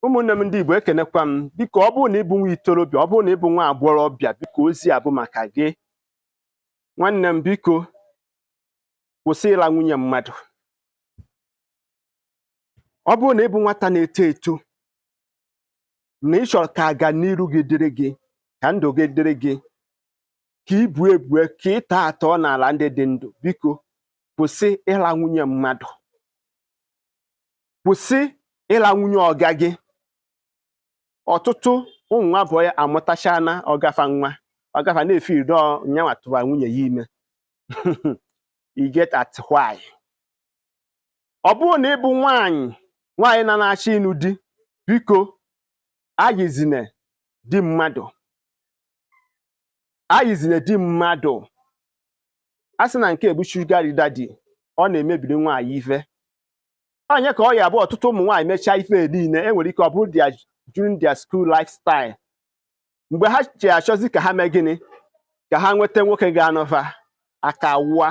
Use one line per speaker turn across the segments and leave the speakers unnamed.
ụmụnne m ndị Igbo ekenekwa m biko ọ bụrụ na ịbụ nwa itorobịa ọ bụrụ na ịbụ nwa agbọghọbịa biko ozi a bụ maka gị nwanne m biko kwụsị ịla nwunye mmadụ ọ bụrụ na ịbụ nwata na-eto eto na ị chọrọ ka ọganiru gị dịrị gị ka ndụ gị dịrị gị ka ibu ebue ka ị tọọ atọ n'ala ndị dị ndụ biko kwụsị ịla nwunye mmadụ kwụsị ịla nwunye ọga gị ọtụtụ ụmụ nwa boy amụtachana ọga fa nwa ọga fa na-efe ido na ya nwa tụwa nwunye ya ime you get at why ọ bụrụ na ịbụ nwaanyị nwaanyị na na-achọ ịnụ di biko ayizine di mmadụ ayizine di mmadụ a sị na nke bụ sugar daddy ọ na-emebiri nwaanyị ife onye ka ọ ya bụ ọtụtụ ụmụ nwaanyị mechaa ife niile enwere ike ọ bụrụ during their school lifestyle mgbe ha ji achọzi ka ha mee gịnị ka ha nweta nwoke ga-anụ fa aka wụa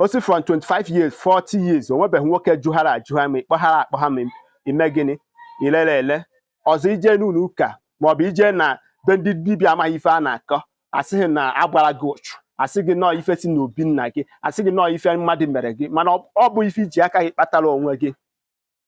o si from 25 years 40 years o nwebeghị nwoke juhara ajuha ma ị kpọhara akpọha ma i me gịnị i lere ele ọzọ ije n'ụlọ ụka maọbụ ije na be ndị dibịa amaghị ife a na-akọ a sị gị na a gbara gị ụchụ a sị gị na ọ ife si n'obi nna gị a sị gị na ọ ife mmadụ mere gị mana ọ bụ ife i ji aka gị kpatara onwe gị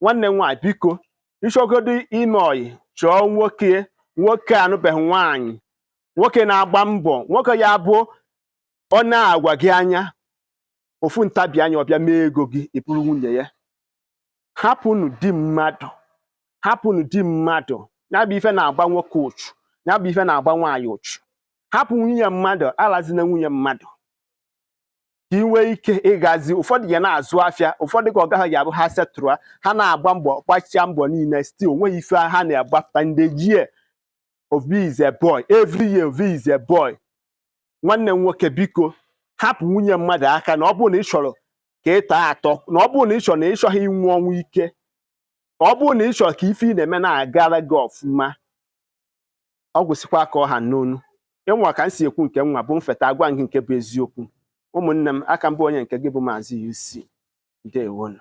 nwanne m nwaanyị biko ị chọgodu ime ọyị chọọ nwoke nwoke anụbeghị nwaanyị nwoke na-agba mbọ nwoke ya bụ ọ na-agwa gị anya ofu ntabi anya ọ bịa mee ego gị ị bụrụ nwunye ya hapụnụ di mmadụ hapụnụ di mmadụ ya bụ ife na-agba nwoke ụchụ ya bụ ife na-agba nwaanyị ụchụ hapụ nwunye mmadụ alazina nwunye mmadụ ka ị nwee ike ịgazi ụfọdụ ya na-azụ afịa ụfọdụ ka ọ gaghị abụ ha setụrụ ha na-agba mbọ gbachia mbọ niile still o nweghị ife ha na-agbapụta every year obi is a boy every year obi is a boy nwanne m nwoke biko hapụ nwunye mmadụ aka na ọ bụrụ na ị chọrọ ka ị tọọ atọ na ọ bụrụ na ị chọrọ na ị chọghị ịnwụ ọnwụ ike ọ bụrụ na ị chọrọ ka ife ị na-eme na-agara gị ọfụma ọ gwụsịkwa ka ọ ha n'ọnụ ịnwa ka m si ekwu nke mụwa bụ m fụta agwa gị nke bụ eziokwu ụmụnne m a ka m bụ onye nke gị bụ maazị UC ndewonụ